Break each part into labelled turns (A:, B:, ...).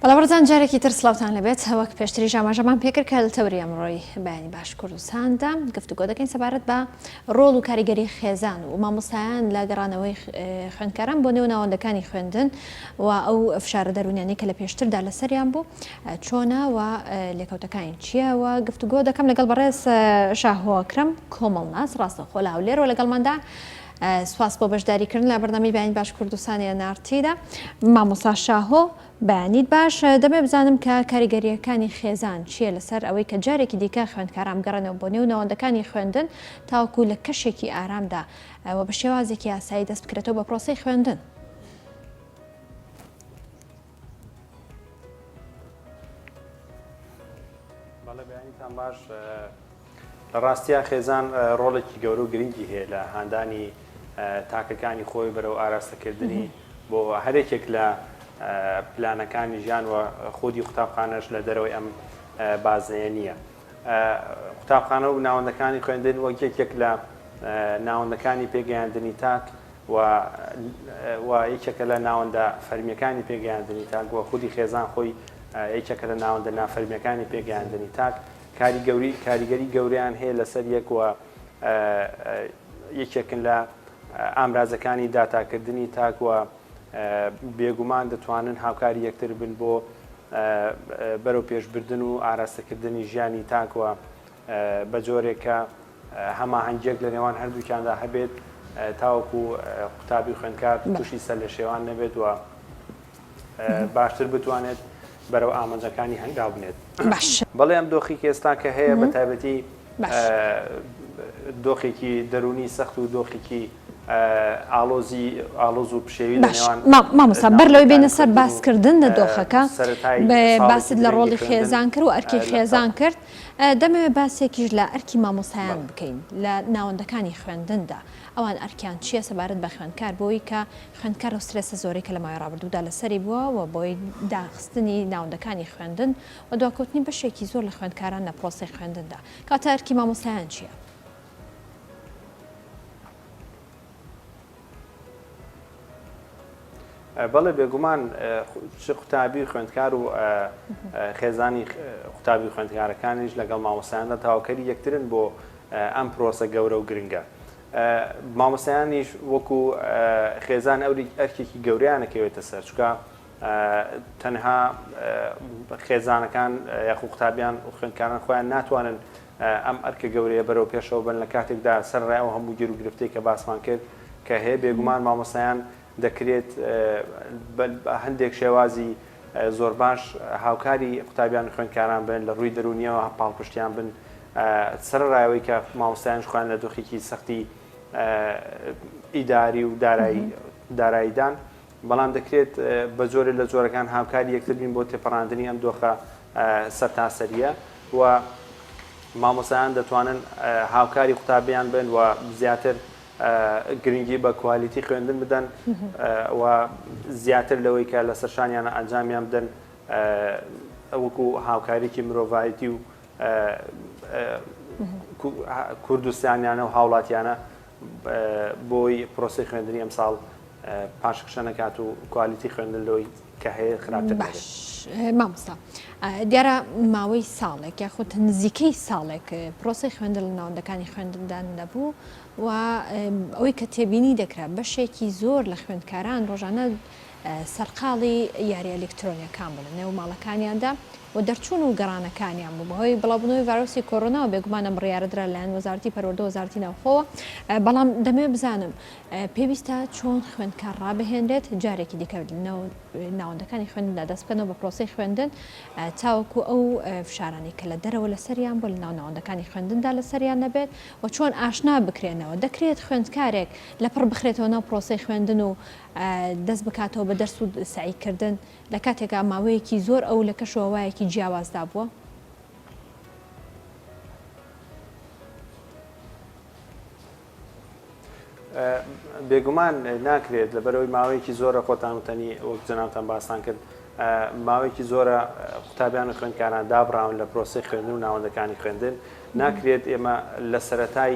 A: بەڵاوەڕزان جارێکی تر سلااوان لەبێت هەوەک پێشتری ژاماژەمان پێکرد کە لە تەوری ئەمڕۆی بەیانی باش کوردستاندا گفتوگۆ دەکەین سەبارەت بە ڕۆڵ و کاریگەری خێزان و مامۆستایان لە گەڕانەوەی خوێندکاران بۆ نێو ناوەندەکانی خوێندن و ئەو فشارە دەرونیانی کە لە پێشتردا لەسەریان بوو چۆنا و لێکەوتەکانی چیەوە گفتوگۆ دەکەم لەگەڵ بەڕێز شاهۆکرم کۆمەڵناس ڕاستەخۆ لە هەولێرەوە لەگەڵماندا سپاس بۆ بەشداری کردن لە بەرنامەی بەیانی باش کوردستان ئێن ئاڕ تی دا. مامۆستا شاهۆ بەیانیت باش دەمێ بزانم کە کاریگەرییەکانی خێزان چییە لەسەر ئەوەی کە جارێکی دیکە خوێندکاران بگەڕێنەوە بۆ نێو ناوەندەکانی خوێندن تاوەکو لە کەشێکی ئارامدا و بە شێوازێکی یاسایی دەست بکرێتەوە بە پرۆسەی خوێندن.
B: بەڵێبیانیتان باش لە ڕاستیا خێزان ڕۆڵێکی گەورە و گرنگی هەیە لە هاندانی تاکەکانی خۆی بەرەو ئاراستەکردنی بۆ هەرێکێک لە پلانەکانی ژیان و خودی قوتابخانەش لە دەرەوەی ئەم بازنەیە نییە قوتابخانە و ناوەندەکانی خوێندن وەک یەکێک لە ناوەندەکانی پێگەیاندنی تاک و و یەکێکە لە ناوەندە فەرمییەکانی پێگەیاندنی تاک و خودی خێزان خۆی یەکێکە لە ناوەندە نافەرمییەکانی پێگەیاندنی تاک کاری گەوری کاریگەری گەوریان هەیە لەسەر یەک و یەکێکن لە ئامرازەکانی داتاکردنی تاک و بێگومان دەتوانن هاوکاری یەکتر بن بۆ بەرەو پێشبردن و ئاراستەکردنی ژیانی تاک و بە جۆرێک کە هەماهەنگییەک لە نێوان هەردووکیاندا هەبێت تاوەکو قوتابی و خوێندکار تووشی سەرلێشێوان نەبێت و باشتر بتوانێت بەرەو ئامانجەکانی هەنگاو بنێت. بەڵێ ئەم دۆخی کە ئێستاکە هەیە بە تایبەتی دۆخێکی دەروونی سەخت و دۆخێکی ئاڵۆزی ئاڵۆز و پشێوی لە نێوان مامۆستا بەر
A: لەوەی بێینە سەر باسکردن لە دۆخەکە باست لە ڕۆڵی خێزان کرد و ئەرکی خێزان کرد دەمەوێت باسێکیش لە ئەرکی مامۆستایان بکەین لە ناوەندەکانی خوێندندا، ئەوان ئەرکیان چییە سەبارەت بە خوێندکار بۆی کە خوێندکار و سترێسە زۆرەی کە لە ماوەی ڕابردوودا لەسەری بووە و بەوەی داخستنی ناوەندەکانی خوێندن و دواکەوتنی بەشێکی زۆر لە خوێندکاران لە پرۆسەی خوێندندا کەواتە ئەرکی مامۆستایان چییە؟
B: بەڵێ بێگومان چ قوتابی و خوێندکار و خێزانی قوتابی و خوێندکارەکانیش لەگەڵ مامۆسایاندا تاوکەری یەکترن بۆ ئەم پرۆسە گەورە و گرنگە. مامۆسایانیش وەکو خێزان ئەوری ئەرکێکی گەوریانەکەوێتە سەر چکە تەنها خێزانەکان یاخو قوتابیان و خوێندکاران خۆیان ناتوانن ئەم ئەرکە گەورەیە بەرەو پێشەوە بەن لە کاتێکدا سەرەڕای ئەو هەموو گیروگرفتەی کە باسمان کرد کە هەیە بێگومان مامۆستایان دەکرێت بە هەندێک شێوازی زۆر باش هاوکاری قوتابیان و خوێندکاران بن لە ڕووی دەروونیەوە پاڵپشتیان بن سەرەڕای ئەوەی کە مامۆستایانش خۆیان لە دۆخێکی سەختی ئیداری و دارایی داراییدان بەڵام دەکرێت بە جۆرێ لە جۆرەکان هاوکاری یەکتر بین بۆ تێپەڕاندنی ئەم دۆخە سەرتاسەرییە و مامۆستایان دەتوانن هاوکاری قوتابیان بن و زیاتر گرنگی بە کوالیتی خوێندن بدەن و زیاتر لەوەی کە لە سەرشانیان ئەنجامیان بدەن وەکو هاوکاریکی مرۆڤایەتی و کوردستانیانە و هاوڵاتیانە بۆی پرۆسەی خوێندنی ئەمساڵ پاشخشە نەکات و کوالیتی خوێندن لۆی کە هەیە خراپتر نەبێت. باش
A: مامۆستا دیارە ماوەی ساڵێک یاخود نزیکەی ساڵێک پرۆسەی خوێندن لە ناوەندەکانی خوێندندا نەبوو و ئەوەی کە تێبینی دەکرا بەشێکی زۆر لە خوێندکاران ڕۆژانە سەرقاڵی یاریە ئەلیکترۆنیەکان بوون لە نێو ماڵەکانیاندا و دەرچوون و گەڕانەکانیان بوو بەهۆی بڵاوبوونەوەی ڤایرۆسی کۆرۆناوە بێگومان ئەم بڕیارە درا لەلایەن وەزارەتی پەروەردە و وەزارەتی ناوخۆوە بەڵام دەمەوێت بزانم پێویستە چۆن خوێندکار ڕابهێنرێت جارێکی دیکە ناوەندەکانی خوێندندا دەست بکەنەوە بە پرۆسی خوێندن تاوەکو ئەو فشارانی کە لە دەرەوە لەسەریان بۆ لە ناو ناوەندەکانی خوێندندا لەسەریان نەبێت و چۆن ئاشنا بکرێنەوە دەکرێت خوێندکارێک لەپڕ بخرێتەوە ناو پرۆسی خوێندن و دەست بکاتەوە بە دەرس و سەعی کردن لە کاتێکا ماوەیەکی زۆر ئەو لە کەش و هەوایەکی جیاوازدا بووە.
B: بێگومان ناکرێت لەبەرەوەی ماوەیەکی زۆرە خۆتان وتەنی وەک جەنابتان باسان کرد ماوەیەکی زۆرە قوتابیان و خوێندکاران دابڕاون لە پرۆسەی خوێندن و ناوەندەکانی خوێندن، ناکرێت ئێمە لە سەرەتای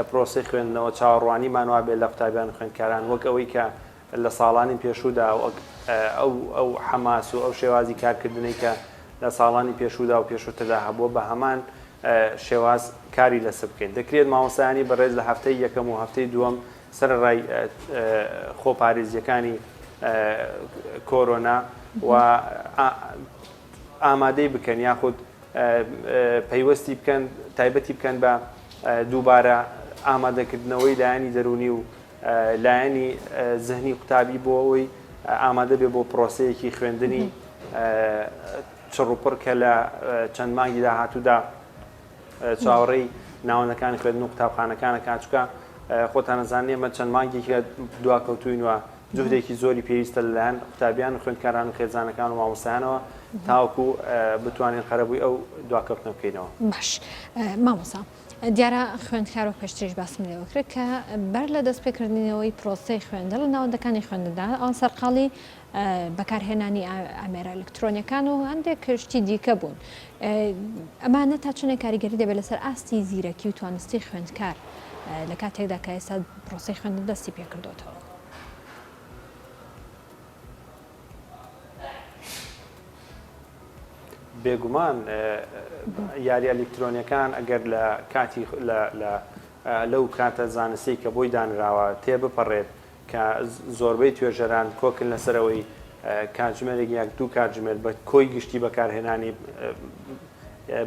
B: پرۆسەی خوێندنەوە چاوەڕوانیمان وابێت لە قوتابیان و خوێندکاران وەک ئەوەی کە لە ساڵانی پێشوودا وەک ئەو حەماس و ئەو شێوازی کارکردنەی کە لە ساڵانی پێشوودا و پێشووتردا هەبووە بە هەمان شێواز کاری لەسەر بکەین. دەکرێت مامۆستایانی بەڕێز لە هەفتەی یەکەم و هەفتەی دووەم سەرەڕای خۆپارێزییەکانی کۆرۆنا و ئامادەی بکەن یاخود پەیوەستی بکەن تایبەتی بکەن بە دووبارە ئامادەکردنەوەی لایەنی دەرونی و لایەنی زهنی قوتابی بۆ ئەوەی ئامادە بێ بۆ پرۆسەیەکی خوێندنی چڕوپڕ کە لە چەند مانگی داهاتوودا چاوەڕێی ناوەندەکانی خوێندن و قوتابخانەکان ئەکات، چونکە خۆتان ئەزانن ئێمە چەند مانگێکە دواکەوتووین و جهدێکی زۆری پێویستە لەلایەن قوتابیان و خوێندکاران و خێزانەکان و مامۆستایانەوە تاوەکو بتوانین قەرەبووی ئەو دواکەوتنە بکەینەوە. باش
A: مامۆستا دیارە خوێندکار و پێشتریش باسم لێوە کرد کە بەر لە دەستپێکردنەوەی پرۆسەی خوێندن لە ناوەندەکانی خوێندندا سەرقاڵی بەکارهێنانی ئامێرە ئەلکترۆنیەکان و هەندێک شتی دیکە بوون ئەمانە تا چنێک کاریگەری دەبێت لەسەر ئاستی زیرەکی و توانستی خوێندکار لە کاتێکدا کە ئێستا پرۆسی خوێندن دەستی پێکردوتەوە
B: بێگومان یاری ئەلکترۆنیەکان ئەگەر لە کاتی لەو کاتە زانستی کە بۆی دانراوە تێبپەڕێت کە زۆربەی توێژەران کۆکن لەسەر ئەوەی کاتژمێرێک یاک دوو کاتژمێر بە کۆی گشتی بەکارهێنانی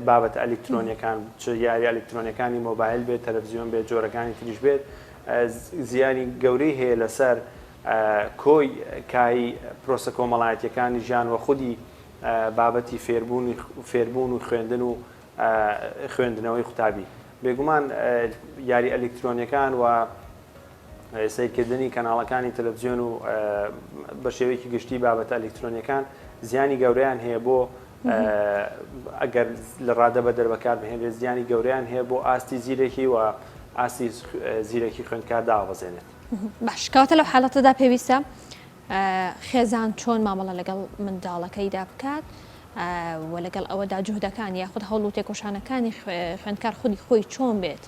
B: بابەتە ئەلیکترۆنیەکان چ یاری ئەلیکترۆنیەکانی مۆبایل بێت تەلەڤزیۆن بێت جۆرەکانی تریش بێت زیانی گەورەی هەیە لەسەر کۆی کایی پرۆسە کۆمەڵایەتیەکانی ژیان وە خودی بابەتی فێربوونی فێربوون و خوێندن و خوێندنەوەی قوتابی بێگومان یاری ئەلیکترۆنیەکان و سەیرکردنی کەناڵەکانی تەلەڤزیۆن و بە شێوەیەکی گشتی بابەتە ئەلکترۆنیەکان زیانی گەورەیان هەیە بۆ ئەگەر لە ڕادە بە دەربەکار بهێنێت زیانی گەوریان هەیە بۆ ئاستی زیرەکی و ئاستی زیرەکی خوێندکار دابەزێنێت باشکاتە
A: لەو حاڵەتەدا پێویستە خێزان چۆن مامەڵە لەگەڵ منداڵەکەیدا بکات و لەگەڵ ئەوەدا جوهدەکان یاخود هەوڵ و تێکۆشانەکانی خوێندکار خودی خۆی چۆن بێت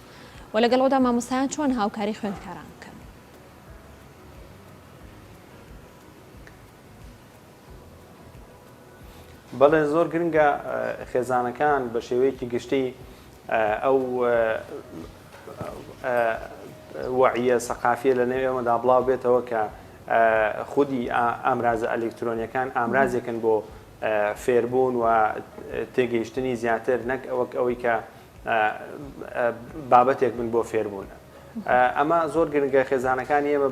A: وە لەگەڵ ئەودا مامۆستایان چۆن هاوکاری خوێندکاران بکەن؟
B: بەڵێ زۆر گرنگە خێزانەکان بە شێوەیەکی گشتی ئەو وعە سەقافیە لە نێو ئێمەدا بڵاو بێتەوە کە خودی ئامرازە ئەلکترۆنیەکان ئامرازێکن بۆ فێربوون و تێگەیشتنی زیاتر نەک ئەوەک ئەوەی کە بابەتێک بن بۆ فێربوون. ئەمە زۆر گرنگە خێزانەکانی ئێمە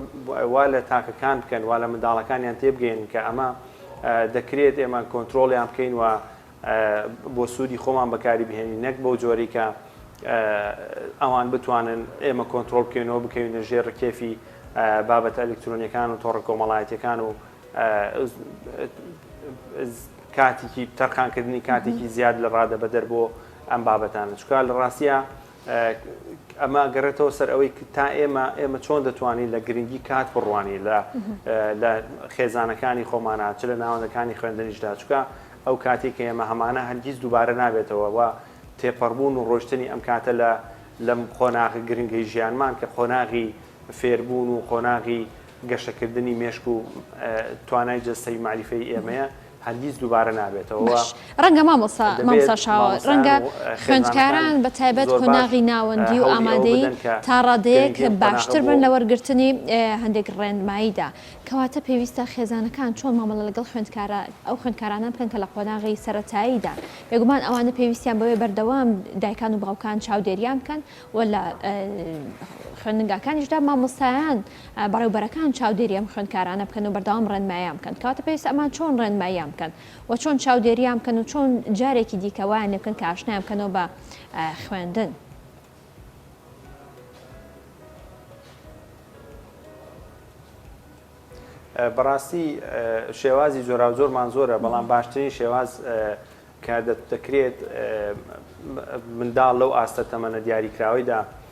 B: وا لە تاکەکان بکەن وا لە منداڵەکانیان تێبگەین کە ئەمە دەکرێت ئێمە کۆنتترۆڵیان بکەین و بۆ سوودی خۆمان بەکاری بهێنین نەک بەو جۆری کە ئەوان بتوانن ئێمە کۆنتترۆل بکەینەوە بکەوینە ژێر ڕکێفی بابەتە ئەلکترۆنیەکان و تۆڕە کۆمەڵایەتەکان و کاتیکی تەرخانکردنی کاتێکی زیاد لە ڕادە بەدەر بۆ ئەم بابەتانە چونکە لە ڕاستیا ئەمە گەڕێتەوە سەر ئەوەی تا ئێمە ئێمە چۆن دەتوانین لە گرنگی کات بڕوانی لە لە خێزانەکانی خۆمانە چ لە ناوەندەکانی خوێندنیشدا چکە ئەو کاتی کە ئێمە هەمانە هەرگیز دووبارە نابێتەوە و تێپەڕبوون و ڕۆشتنی ئەم کاتە لە لەم قۆناغی گرنگی ژیانمان کە قۆناغی فێربوون و قۆناغی گەشەکردنی مێشک و توانای جەستەی مالیفەی ئێمەیە هەرگیز دووبارە نابێتەوە و باش ڕەنگە مامۆستا دەبێت مامۆستا شاوە
A: مامۆستایان ڕەنگە و خێزانەکان خوێندکاران بە تایبەت زۆر باش قۆناغی ناوەندی و هەوڵی ئەوە ئامادەیی بدەن کە تا ڕادەیەک گرنگی ئەم قۆناغە باشتر بۆ بن لە وەرگرتنی هەندێک ڕێنماییدا کەواتە پێویستە خێزانەکان چۆن مامەڵە لەگەڵ خوێندکارا ئەو خوێندکارانە بکەن کە لە قۆناغی سەرەتاییدا بێگومان ئەوانە پێویستیان بەوەیە بەردەوام دایکان و باوکان چاودێریان بکەن و لە خوێندنگاکانیشدا مامۆستایان بەڕێوبەرەکان چاودێری ئەم خوێندکارانە بکەن و بەردەوام ڕێنماییان بکەن، کەواتە پێویستە ئەمان چۆن ڕێنماییان بکەن و چۆن چاودێریان بکەن و چۆن جارێکی دیکە وایان لێ بکەن کە ئاشنایان بکەنەوە بە خوێندن.
B: بەڕاستی شێوازی جۆراوجۆرمان زۆرە بەڵام باشترین شێواز کە دەکرێت منداڵ لەو ئاستە تەمەنە دیاریکراوەیدا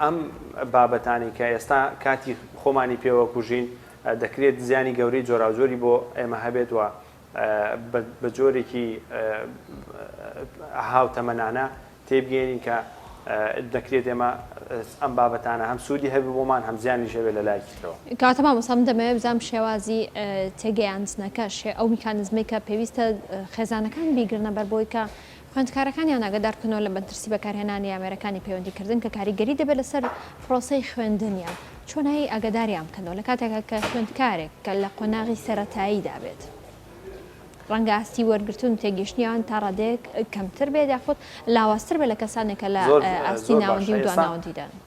B: ئەم بابەتانەی کە ئێستا کاتی خۆمانی پێوە کوژین دەکرێت زیانی گەورەی جۆراوجۆری بۆ ئێمە هەبێت و بە جۆرێکی هاوتەمەنانە تێبگەیەنین کە دەکرێت ئێمە ئەم بابەتانە هەم سوودی هەبێت بۆمان هەم زیانیش هەبێت لە لایەکی ترەوە. کاتە مامۆستا من دەمەوێت
A: بزانم شێوازی تێگەیاندنەکە، ئەو میکانیزمەی کە پێویستە خێزانەکان بیگرنە بەر بۆی کە خوێندکارەکانیان ئاگادار بکەنەوە لە مەترسی بەکارهێنانی ئامێرەکانی پەیوەندیکردن کە کاریگەری دەبێت لەسەر پرۆسەی خوێندنیان، چۆنایی ئاگاداریان بکەنەوە لە کاتێکا کە خوێندکارێک کە لە قۆناغی سەرەتاییدا بێت ڕەنگە ئاستی وەرگرتن و تێگەیشتنیان تا ڕادەیەک کەمتر بێت یاخود لاوازتر بێت لە کەسانێک کە لە ئاستی ناوەندی و دواناوەندیدان.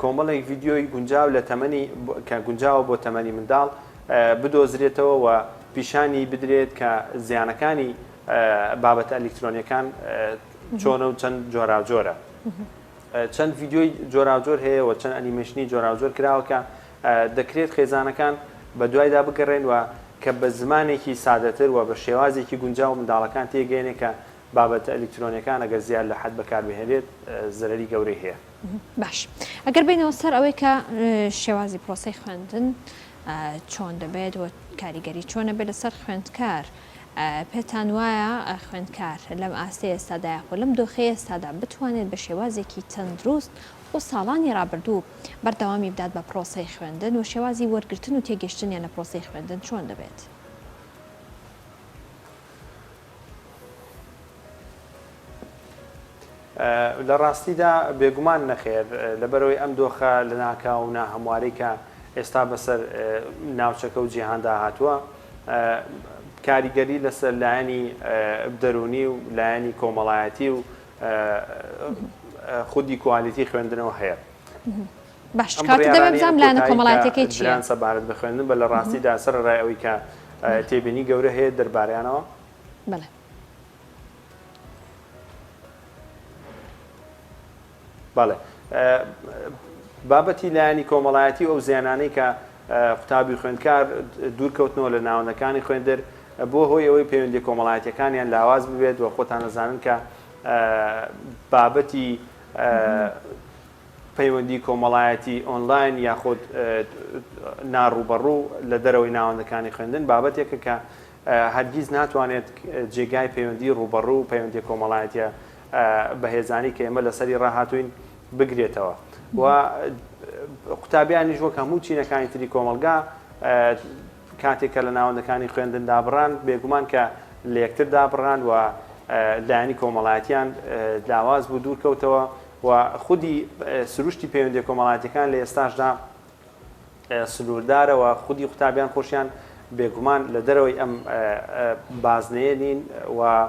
B: کۆمەڵێک ڤیدیۆی گونجاو لە تەمەنی کە گونجاوە بۆ تەمەنی منداڵ بدۆزرێتەوە و پیشانی بدرێت کە زیانەکانی بابەتە ئەلیکترۆنیەکان چۆنە و چەند جۆراوجۆرە چەند ڤیدیۆی جۆراوجۆر هەیە و چەند ئەنیمەشنی جۆراوجۆر کراوە کە دەکرێت خێزانەکان بە دوایدا بگەڕێن و کە بە زمانێکی سادەتر و بە شێوازێکی گونجاو منداڵەکان تێگەێنێ کە بابەتە ئەلیکترۆنیەکان ئەگەر زیاد لە حەد بەکاربهێنرێت زەرەری گەورەی هەیە. باش
A: ئەگەر بینەوە سەر ئەوەی کە شێوازی پرۆسەی خوێندن چۆن دەبێت و کاریگەری چۆنە بێت لەسەر خوێندکار پێتان وایە خوێندکار لەم ئاستی ئێستادا یاخۆ لەم دۆخی ئێستادا بتوانێت بە شێوازێکی تەندروست و ساڵانی رابردوو بەردەوامی بدات بە پرۆسەی خوێندن و شێوازی وەرگتن و تێگەشتنیان لە پرۆسی خوێندن چۆن دەبێت؟
B: لە ڕاستیدا بێگومان نەخێر، لەبەرئەوەی ئەم دۆخە لەناکاو و ناهەموارەی کە ئێستا بەسەر ناوچەکە و جیهاندا هاتووە، کاریگەری لەسەر لایەنی دەروونی و لایەنی کۆمەڵایەتی و خودی کوالیتی خوێندنەوە هەیە. باشە
A: ئەم کاکە دەمێ بڕیارانەی ئەم بزانم لایەنە کۆتایی کە کۆمەڵایەتیەکەی چیە؟ دران سەبارەت بە خوێندن بە لە
B: ڕاستی دا سەرەڕای ئەوەی کە بەلێ. تێبینی گەورە هەیە دەربارەیانەوە؟ بەلێ. بەڵێ بابەتی لایەنی کۆمەڵایەتی و ئەو زیانانەی کە قوتابی خوێندکار دوور کەوتنەوە لە ناوەندەکانی خوێندر بووە هۆی ئەوەی پەیوەندی کۆمەڵایەتیەکانیان لاواز ببێت و خۆتان ئەزانن کە بابەتی پەیوەندی کۆمەڵایەتی ئۆنلاین یاخود نا ڕووبەڕوو لە دەرەوەی ناوەندەکانی خوێندن بابەتێکە کە هەرگیز ناتوانێت جێگای پەیوەندی ڕووبەڕوو و پەیوەندییە کۆمەڵایەتییە بەهێزانەی کە ئێمە لەسەری ڕاهاتووین بگرێتەوە و قوتابیانیش وەک هەموو چینەکانی تری کۆمەڵگا کاتێک کە لە ناوەندەکانی خوێندن دابڕان، بێگومان کە لە یەکتر دابڕان و لایەنی کۆمەڵایەتییان لاواز بوو، دوور کەوتەوە و خودی سروشتی پەیوەندییە کۆمەڵایەتییەکان لە ئێستاشدا سنووردارە و خودی قوتابیان خۆشیان بێگومان لە دەرەوەی ئەم بازنەیە نین و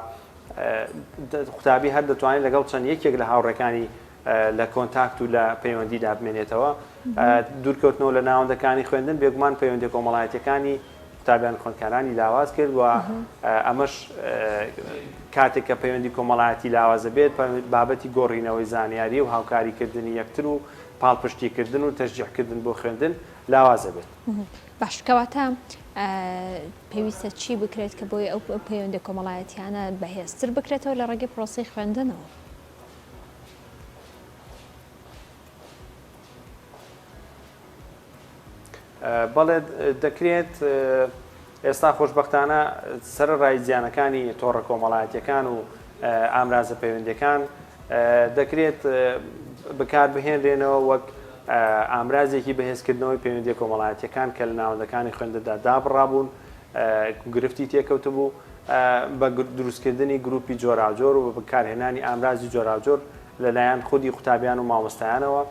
B: قوتابی هەر دەتوانێت لەگەڵ چەند یەکێک لە هاوڕێکانی لە کۆنتاکت و لە پەیوەندیدا بمێنێتەوە. دوورکەوتنەوە لە ناوەندەکانی خوێندن بێگومان پەیوەندییە کۆمەڵایەتییەکانی قوتابیان و خوێندکارانی لاواز کرد و ئەمەش کاتێک کە پەیوەندی کۆمەڵایەتی لاواز دەبێت بابەتی گۆڕینەوەی زانیاری و هاوکاریکردنی یەکتر و پاڵپشتیکردن و تەشجیعکردن بۆ خوێندن لاواز دەبێت. باش کەواتە
A: پێویستە چی بکرێت کە بۆی ئەو پەیوەندییە کۆمەڵایەتییانە بەهێزتر بکرێتەوە لە ڕێگەی پرۆسەی خوێندنەوە؟
B: بەڵێ دەکرێت ئێستا خۆشببختانە سەر ڕای زیانەکانی تۆڕە کۆمەڵایەتەکان و ئامرازە پەیوەندەکان دەکرێت بکار بهێنرێنەوە وەک ئامرازێکی بەهێزکردنەوەی پەیوەندی کۆمەڵایەتەکان کە لە ناوەندەکانی خوێندەدا دابڕابوون گرفتی تێکەوتبوو بە دروستکردنی گروپی جۆراوجۆر و بە بەکارهێنانی ئامرازی جۆراوجۆر لەلایەن خودی قوتابیان و مامۆستایانەوە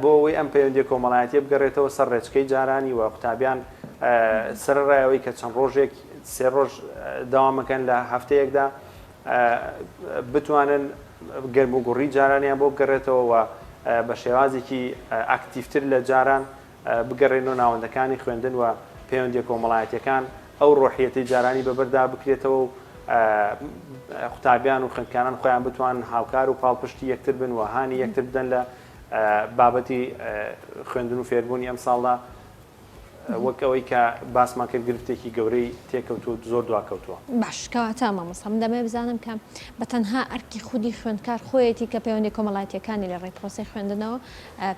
B: بۆ ئەوەی ئەم پەیوەندیە کۆمەڵایەتیە بگەڕێتەوە سەر ڕێچکەی جارانی و قوتابیان سەرڕایەوەی کە چەند ڕۆژێک سێ ڕۆژ داوامەکەن لە هەفتەیەکدا بتوانن گەرم و گوڕی جارانیان بۆ بگەڕێتەوە و بە شێوازێکی ئاکتیفتر لە جاران بگەڕێنەوە ناوەندەکانی خوێندن و پەیوەندیە کۆمەڵایەتیەکان، ئەو ڕۆحیەتەی جارانی بەبەردا بکرێتەوە و قوتابیان و خوێندکاران خۆیان بتوانن هاوکار و پاڵپشتی یەکتر بن و هانی یەکتر بدەن لە بابەتی خوێندن و فێربوونی ئەمساڵدا وەک ئەوەی کە باسمان کرد گرفتێکی گەورەی تێکەوتوو زۆر دواکەوتووە. باش کەواتە
A: مامۆستا من دەمەوێت بزانم کە بە تەنها ئەرکی خودی خوێندکار خۆیەتی کە پەیوەندیە کۆمەڵایەتیەکانی لە ڕێی پرۆسەی خوێندنەوە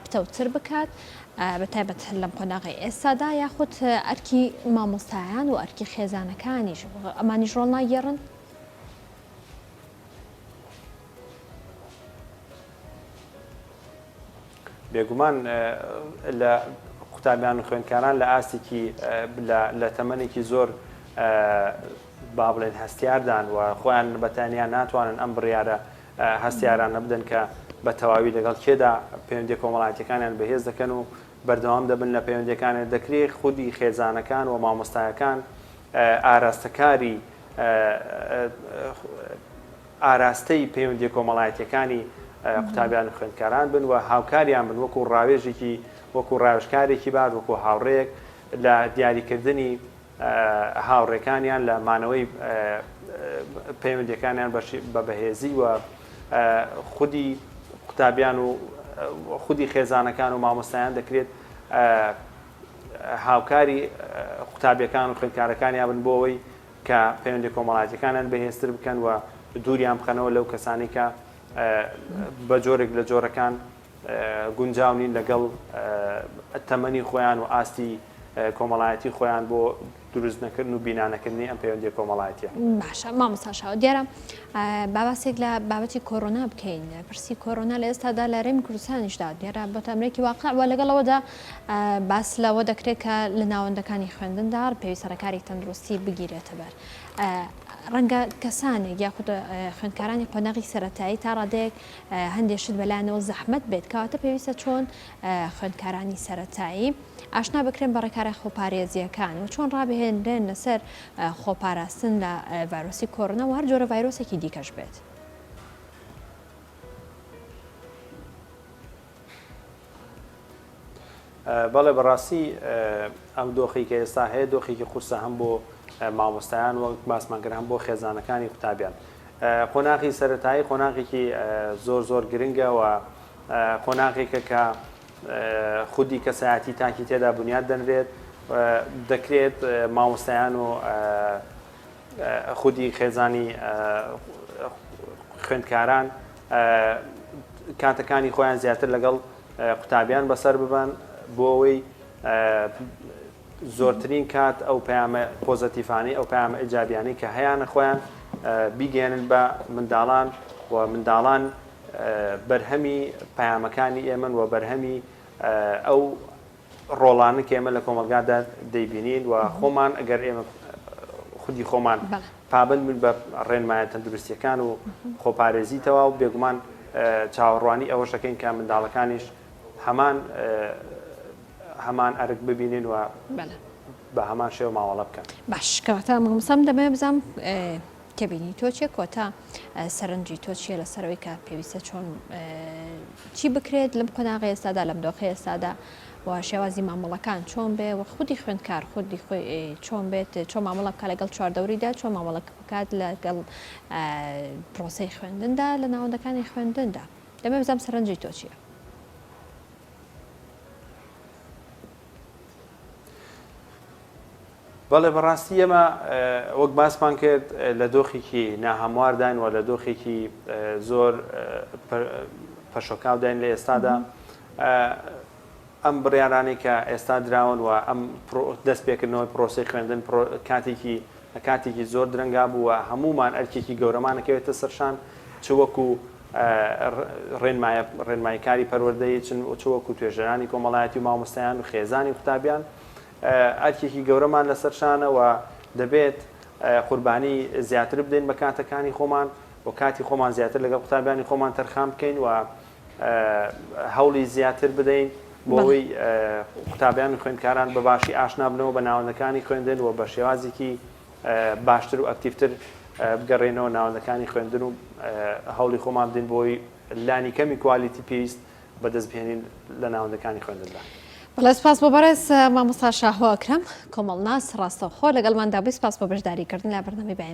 A: پتەوتر بکات بە تایبەت لەم قۆناغی ئێستادا یاخود ئەرکی مامۆستایان و ئەرکی خێزانەکانیش ئەمانیش ڕۆڵ ناگێڕن
B: بێگومان لە قوتابیان و خوێندکاران لە ئاستێکی لە تەمەێکی زۆر با بڵێن هەستیاردان و خۆیان بەتانیان ناتوانن ئەم بڕیاە هەستیاران نەبدەن کە بە تەواوی لەگەڵ کێدا پەیوەندییە کۆمەڵایەتییەکانیان بەهێز دەکەن و بەردەوام دەبن لە پەیوەندییەکانیان، دەکرێ خودی خێزانەکان و مامۆستایەکان ئاراستەکاری ئاراستەی پەیوەندییە کۆمەڵایەتییەکانی قوتابیان و خوێندکاران بن و هاوکاریان بن وەکوو ڕاوێژێکی، وەکوو ڕاوێژکارێکی باش، وەکوو هاوڕێیەک لە دیاریکردنی. هاوڕێکانیان لە مانەوەی پەیوەندیەکانیان بە بەهێزی و خودی قوتابیان و خودی خێزانەکان و مامۆستایان دەکرێت هاوکاری قوتابیەکان و خوێندکارەکانیان بن بۆ ئەوەی کە پەیوەندی کۆمەڵاتەکانیان بەهێزتر بکەن و دووریان بخەنەوە لەو کەسانی کە بە جۆرێک لە جۆرەکان گونجاو نین لەگەڵ تەمەنی خۆیان و ئاستی کۆمەڵایەتی خۆیان بۆ دروست نەکردن و بینا نەکردنی ئەم پەیوەندی کۆمەڵایەتە باشە مامەساشاوە
A: دیارە باباسێک لە بابەتی کۆرۆنا بکەین پرسی کۆرۆنا لە ئێستادا لە رێم کوردستانیشدا دیێرا بۆ تامرێکی واقع وە لەگەڵەوەدا باس لەوە دەکرێت کە لە ناوەندەکانی خوێندندا پێوی سەرکاری تەندروستی بگیرێتە بەر ڕەنگە کەسانێک یاخود خوێندکارانی قۆناغی سەتایی تا ڕادێک هەندێ شت بەلایانەوە زەحمەت بێت کەواتە پێویستە چۆن خوێندکارانی سەرەتایی ئاشنا بکرێن بە ڕێکارە خۆپارێزیەکان و چۆن ڕابهێنرێن لەسەر خۆپاراستن لە ڤایرۆسی کۆرنە و هەر جۆرە ڤایرۆسێکی دیکەش بێت.
B: بەڵێ بەڕاستی ئەم دۆخی کە ئێستا هەیە دۆخێکی قورسە هەم بۆ مامۆستایان وەک باسمان کرد هەم بۆ خێزانەکانی قوتابیان قۆناغی سەتایی قۆناغێکی زۆر زۆر گرنگەوە قۆناغێکە کە خودی کەسایەتی تاکی تێدا بنیاد دەنرێت دەکرێت مامۆستایان و خودی خێزانی خوێندکاران کاتەکانی خۆیان زیاتر لەگەڵ قوتابیان بەسەر ببەن بۆ ئەوەی زۆرترین کات ئەو پەیامە پۆزەتیفانەی ئەو پەیامە ئیجابیانەی کە هەیانە خۆیان بیگەێنن بە منداڵان و منداڵان بەرهەمی پەیامەکانی ئێمن و بەرهەمی ئەو ڕۆڵانە کە ئێمە لە کۆمەڵگادا دەیبینین و خۆمان ئەگەر ئێمە خودی خۆمان پابند بوون بە ڕێنمایە تەندروستیەکان و خۆپارێزی تەوا و بێگومان چاوەڕوانی ئەوە شەکەین کە منداڵەکانیش هەمان هەمان ئەرک ببینین و بە هەمان شێوە ماوەڵە بکەن باش کەواتە
A: مامۆسام دەبێ بزانم کە بینی تۆ چێ کۆتا سەرنجی تۆ چیە لە سەرەوەی کە پێویستە چۆن چی بکرێت لەم قۆناغی ئێستادا لەم دۆخی ئێستادا و شێوازی مامەڵەکان چۆن بێ و خودی خوێندکار خودی خۆی چۆن بێت چۆن مامەڵە بکە لەگەڵ چواردەوریدا چۆن مامەڵک بکات لەگەڵ پرۆسی خوێندندا لە ناوەندەکانی خوێندندا دەمە بزانام سەرنجی تۆ چیە
B: بەڵێ بەڕاستی ئێمە وەک باسمان کرد لە دۆخێکی ناهەموارداین و لە دۆخێکی زۆر پەشۆکاوداین لە ئێستادا ئەم بڕیارانەی کە ئێستا دراون و ئەم دەست پێکردنەوەی پرۆسی خوێندن کاتێکی کاتێکی زۆر درەنگا بووە هەمومان ئەرکێکی گەورەمانەکەوێتە سەرشان چ وەکو ڕێنمایە ڕێنماییکاری پەروەردەیی چن چ وەکوو توێژەرانی کۆمەڵایەتی و مامۆستایان و خێزانی و قوتابیان ئەرکێکی گەورەمان لەسەر شانە و دەبێت قوربانی زیاتر بدەین بە کاتەکانی خۆمان و کاتی خۆمان زیاتر لەگەڵ قوتابیانی خۆمان تەرخان بکەین و هەوڵی زیاتر بدەین بۆ بەڵێ ئەوەی قوتابیان و خوێندکاران بە باشی ئاشنا بنەوە بە ناوەندەکانی خوێندن و بە شێوازێکی باشتر و ئەکتیڤتر بگەڕێینەوە ناوەندەکانی خوێندن و هەوڵی خۆمان بدەین بۆی لانی کەمی کوالیتی پێویست بەدەست بهێنین لە ناوەندەکانی خوێندندا. بەڵێ سپاس بۆ
A: بەڕێز مامۆستا شاهۆ ئەکرەم کۆمەڵناس ڕاستەوخۆ لەگەڵماندا بووی سپاس بۆ بەشداریکردن لە بەرنامەی بەیانی.